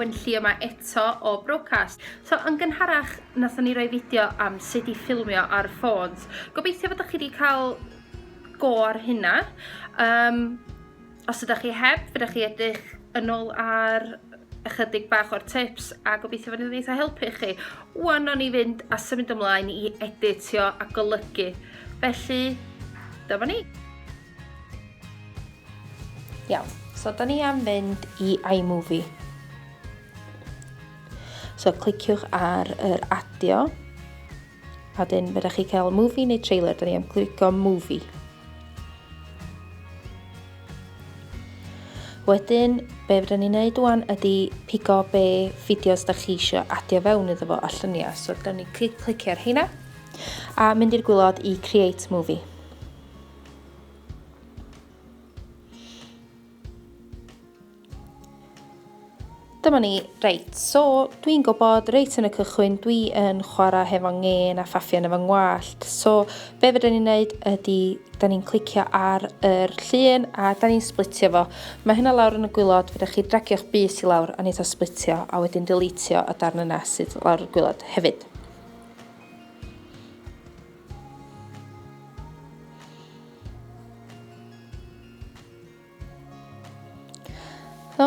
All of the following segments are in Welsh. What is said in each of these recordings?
Wenlli yma eto o Brocast. So, yn gynharach, nathon ni roi fideo am sut i ffilmio ar ffôns. Gobeithio bod chi wedi cael go ar hynna. Um, Os ydych chi heb, fydych chi edrych yn ôl ar ychydig bach o'r tips a gobeithio fod yn eitha helpu chi. Wan o'n i fynd a symud ymlaen i editio a golygu. Felly, dyma ni. Iawn, so da ni am fynd i iMovie. So cliciwch ar yr adio A dyn, fe chi cael movie neu trailer, da ni am clico movie. Wedyn, be fydden ni'n neud wan ydy pigo be fideos da chi eisiau adio fewn iddo fo a lluniau. So, da ni clic, clicio ar hynna a mynd i'r gwylod i create movie. Dyma ni. Reit, so dwi'n gwybod reit yn y cychwyn dwi yn chwarae hefo ngên a ffaffian efo ngwallt. So be fydden ni'n neud ydy da ni'n clicio ar yr llun a da ni'n splitio fo. Mae hynna lawr yn y gwylod, fydda chi dragio'ch bus i lawr a neitha splitio a wedyn deletio y darn yna sydd lawr y gwylod hefyd. So,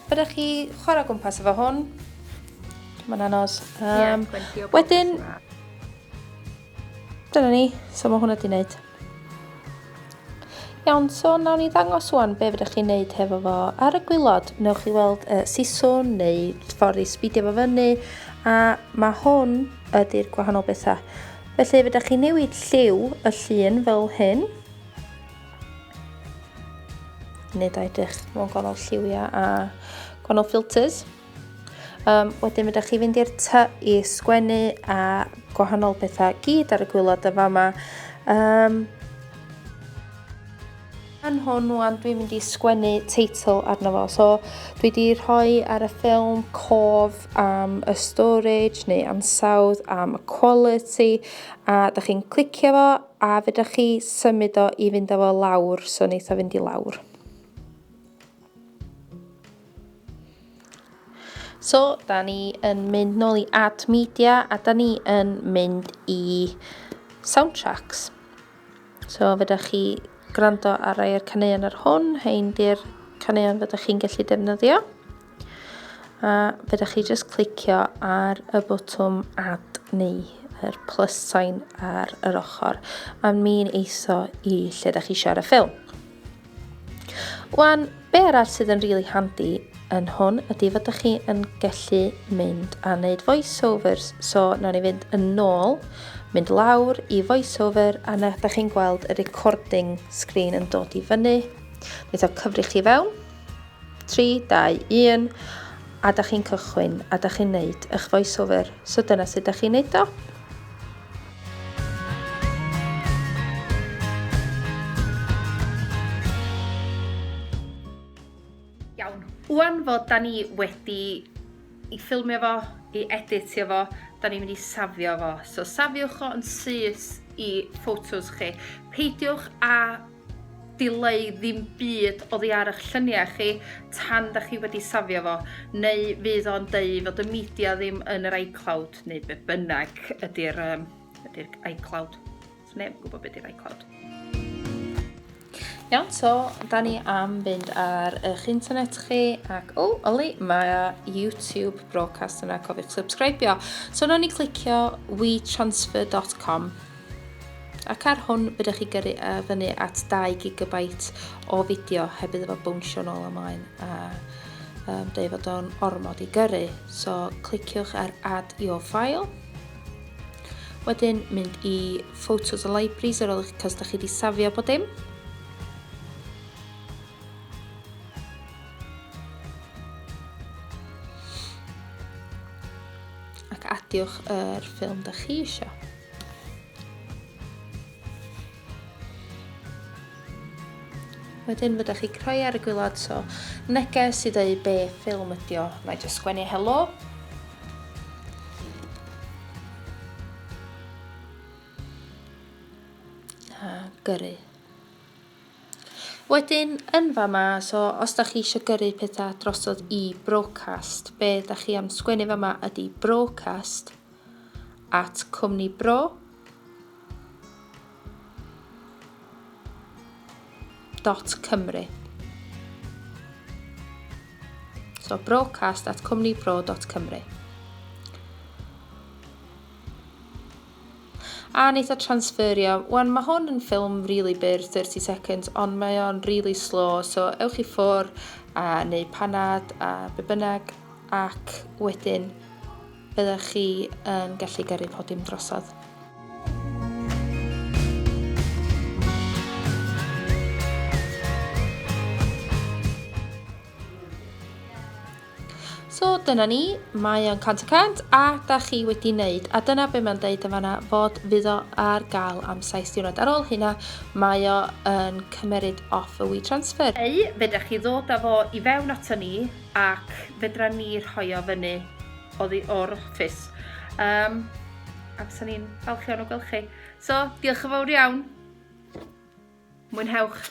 byddech chi chwarae gwmpas efo hwn. Mae'n anodd. Um, yeah, wedyn, dyna ni, so mae hwnna di wneud. Iawn, so nawn ni ddangos wan be fyddech chi'n neud hefo fo. Ar y gwylod, newch chi weld uh, siswn neu ffordd i sbidio fo fyny, a mae hwn ydy'r gwahanol bethau. Felly fyddech chi'n newid lliw y llun fel hyn. Nid a edrych mewn gwahanol lliwiau a gwahanol filters. Um, wedyn ydych chi fynd i'r ty i sgwennu a gwahanol bethau gyd ar y gwylod y fama. Um, yn hwn wan dwi'n mynd i sgwennu teitl arno fo. So dwi wedi rhoi ar y ffilm cof am y storage neu ansawdd am y quality a da chi'n clicio fo A fedrwch chi symud o i fynd â fo lawr, so wneith o fynd i lawr. So, da ni yn mynd nôl i Add Media a da ni yn mynd i Soundtracks. So, fedrwch chi gwrando ar rai o'r caneuon ar hwn, hein di'r caneuon fydwch chi'n gallu defnyddio. A fedrwch chi jyst clicio ar y botwm add neu yr plus sign ar yr ochr a mi'n eitho i lle da chi eisiau ar y ffilm. Wan, be arall sydd yn rili really handi yn hwn ydy fod ydych chi yn gallu mynd a wneud voiceovers. So, nawn ni fynd yn nôl, mynd lawr i voiceover, a na ydych chi'n gweld y recording screen yn dod i fyny. Wneud o cyfri chi fewn. 3, 2, 1, a da chi'n cychwyn, a da chi'n neud eich voiceover. So dyna sut da chi'n neud o. Wan fod da ni wedi i ffilmio fo, i editio fo, da ni'n mynd i safio fo. So safiwch o yn syth i photos chi. Peidiwch a Dylai ddim byd oddi ar ych lluniau chi tan da chi wedi safio fo, neu fydd o'n deu fod y media ddim yn yr iCloud, neu be bynnag ydy'r um, ydy'r iCloud. So neb yn gwybod beth ydy'r iCloud. Iawn, so, da ni am fynd ar eich internet chi ac, o, oh, oli, mae YouTube broadcast yna, cofiwch subscribio. So, nawn ni clicio wetransfer.com Ac ar hwn, byddech chi gyrru e fyny at 2 gigabyte o fideo heb iddo fo bownsio nôl ymlaen a um, dweud fod o'n ormod i gyrru. So cliciwch ar Add Your File. Wedyn mynd i Photos a Libraries ar ôl eich cos da chi wedi safio bod dim. Ac adiwch yr ffilm da chi eisiau. Wedyn fydda chi croi ar y gwylod, so neges i ddweud be ffilm ydi o. Na i just sgwennu helo. A gyrru. Wedyn, yn fa ma, so os da chi eisiau gyrru pethau drosodd i broadcast, be da chi am sgwennu fa ma ydi broadcast, at cwmni bro dot cymru. So broadcast at cwmni bro dot cymru. a wneud o transferio. Wan, mae hwn yn ffilm really byr, 30 seconds, ond mae o'n really slow, so ewch i ffwr a neu panad a be bynnag, ac wedyn Byddech chi yn gallu gyrru podiwm drosodd. So dyna ni, mae o'n 100 y 100 a da chi wedi wneud a dyna be mae'n deud yn fanna fod fydd o ar gael am saith diwrnod. Ar ôl hynna mae o yn cymeryd off y WeTransfer. Neu fedrwch chi ddod â fo i fewn ato ni ac fedran ni rhoi o fyny oddi o'r office. Um, a bysa ni'n falch iawn o gweld chi. So, diolch yn fawr iawn. Mwynhewch.